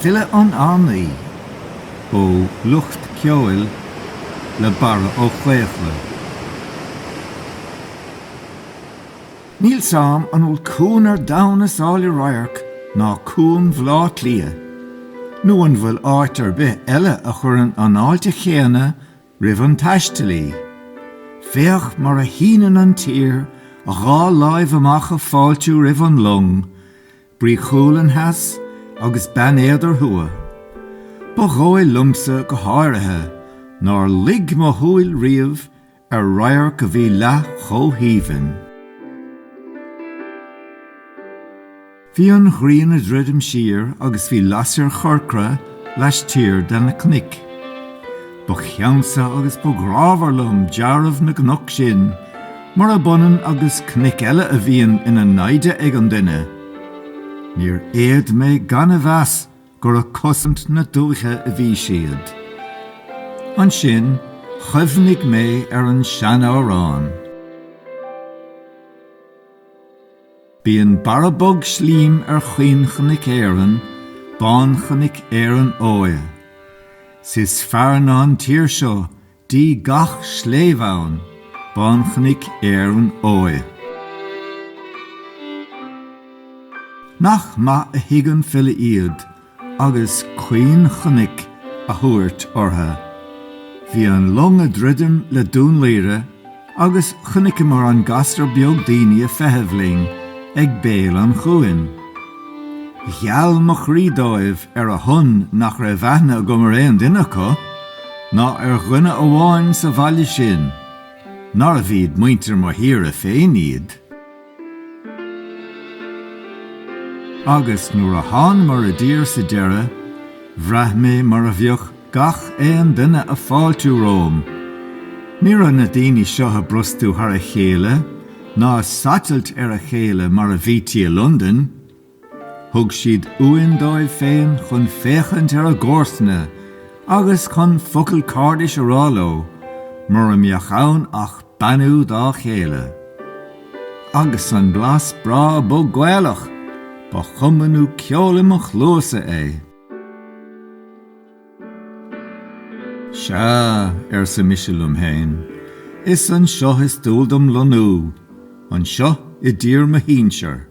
Filleadh an Fhánaí ó Lucht Ceoil le Barra Ó Caochlaigh. Níl a fhios agam an bhfuil cuan ar domhan is áille radharc ná cuan Bhleá Cliath, nó an bhfuil áit ar bith eile a chuireann an fháilte chéanna Roimh an taistealaí, féach mar a shíneann an tír a dhá láimh amach ag fáiltiú roimh an long, Brí Chualann theas agus Beann Éadair thuaidh. Ba dhóigh liomsa go háirithe nár luigh mo shúil riamh ar radharc a bhí leath chomh haoibhinn. Bhí an ghrian ag druidim siar agus bhí lasair chorcra laistiar de na cnoic. Ba cheansa agus ba ghrámhar liom deáramh na gcnoc sin, murab ionann agus cnoic eile a bhíonn ina naimhde ag an duine. Níor fhéad mé gan a mheas gur ag cosaint na dúiche a bhí siad. Ansin chuimhnigh mé ar an sean-amhrán. Bíonn barra bog slím ar chaoinchnoic Éireann, Bánchnoic Éireann Óighe. 'S is fearr ná an tír seo díogha gach sléibhe ann, Bánchnoic Éireann Óighe. Nach maith a thuig an file iad! agus caoinchnoic a thabhairt orthu. Bhí an long ag druidim le Dún Laoghaire agus chonaiceamar an gasra beag daoine ag feitheamh linn ag béal an chuain. Gheal mo chroí dóibh ar a shon nach raibh aithne agam ar aon duine acu, ná ar dhuine amháin sa bhaile sin, nárbh iad muintir mo thíre féin iad. Agus nuair a thánamar i dtír sa deireadh, bhraith mé mar a bheadh gach aon duine ag fáiltiú romham. Ní raibh na daoine seo ag brostú thar a chéile ná ag satailt ar a chéile mar a bhítí i Londain. Thug siad uain dóibh féin chun féachaint ar a gcomharsana agus chun focal cairdis a rá leo, mura mbeadh ann ach beannú dá chéile. Agus an blas breá bog Gaelach! Ba chuma nó ceol i mo chluasa é. Sea, arsa mise liom féin, is anseo is dual dom lonnú, anseo i dtír mo shinsear.